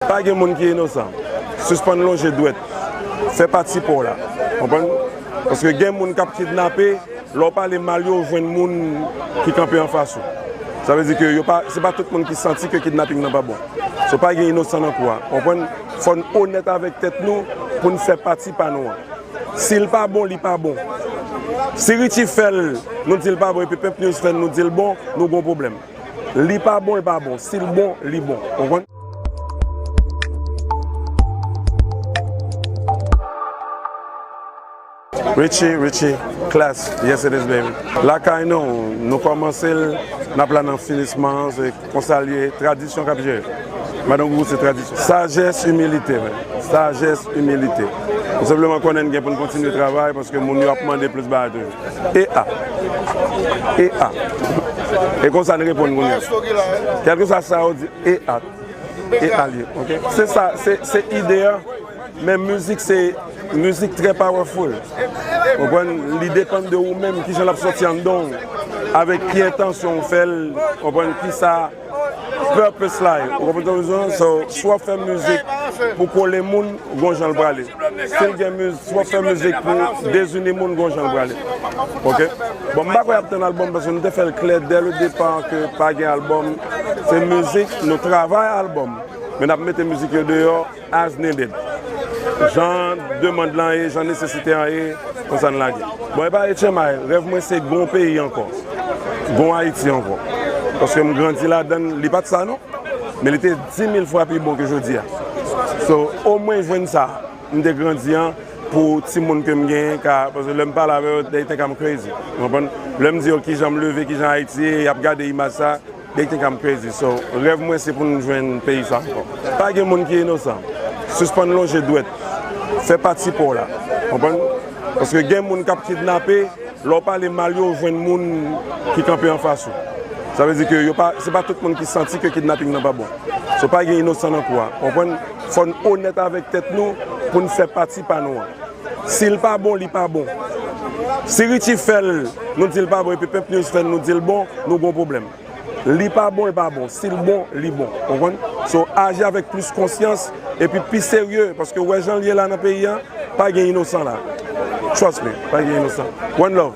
Pa gen moun ki inosan. Sispann lonje dwèt. Fè pati pa w la. Konprann? Paske gen moun k ap kidnape, lè w pale mal yo, ou jwenn moun ki kanpe anfas ou. Sa vle di ke yo pa, se pa tout moun ki santi ke kidnaping nan pa bon. So pa gen inosan nan kou a. Konprann? Fò n onèt avèk tèt nou pou n fè pati pa nou an. Si l pa bon, li pa bon. Si Richie fè l, nou di l pa bon epi Pimp News fè l nou di l bon, nou gen yon pwoblèm. Li pa bon, l pa bon. Si l bon, li bon. Konprann? Richie Richie Klass yes it is baby Lakay nou nou kòmanse l nap la nan finisman an se konsa l ye tradisyon kap jere madan gougou se tradisyon sajès imilite men sajès imilite nou senpleman konnen n gen pou n kontinye travay paske moun yo ap mande plis bagay toujou. E a. E a. E konsa n reponn kounye a. Kèlkeswa sa yo di, e a. E a li. Ok? Se sa, se ide a. Men mizik se, mizik trè powerful. Ou konprann? Li depann de ou menm kijan l ap soti anndan w. Avèk ki entansyon ou fè l. Ou konprann? Ki sa. Purpose la ye, ou konprann sa m di w? So, si w ap fè mizik pou kole moun, gon jan l prale. Si l gen miz, si w ap fè mizik pou dezini moun, gon jan l prale. Ok? Bon, m pa kwè y ap tann albòm paske m te fè l klè dè le depa ke pa gen albòm. Se mizik, nou travay albòm, men n ap mete mizik yo deyò. As needed. Jan demand lan ye, jan nesesite an ye, konsa n lage. Bon, epa HMI, rèv mwen se gon peyi ankò. Gon Ayiti ankò. Paske m grandi ladan l, li pa t sa non. Men li te dimil fwa pi bon ke jodi a. So, omwen jwenn sa m te grandi an pou timoun ke m genyen ka, paske lè m pale avè yo, they think I'm crazy. Ou konprann? Lè m di yo kijan m leve, kijan Ayiti ye, y ap gade imaj sa. They think I'm crazy so Rèv mwen se pou nou jwenn peyi sa ankò Pa gen moun ki inosan Sispann lonje dwèt Fè pati pa w la Konprann Paske gen moun k ap kidnape Lè w pale mal yo ou jwenn moun ki kanpe anfas ou Sa vle di ke yo pa se pa tout moun ki santi ke kidnaping nan pa bon So pa gen inosan nan kou a Konprann Fò n onèt avèk tèt nou pou n fè pati pa nou an. Sil pa bon li pa bon. Si Richie fèl nou dil pa bon epi pimp news fèl nou dil bon nou gon pwoblèm. Li pa bon l pa bon sil bon li bon ou konprann so aji avèk plis konsyans epi pi serye paske ou wè janl ye la nan peyi an pa gen inosan la trust me pa gen inosan one love.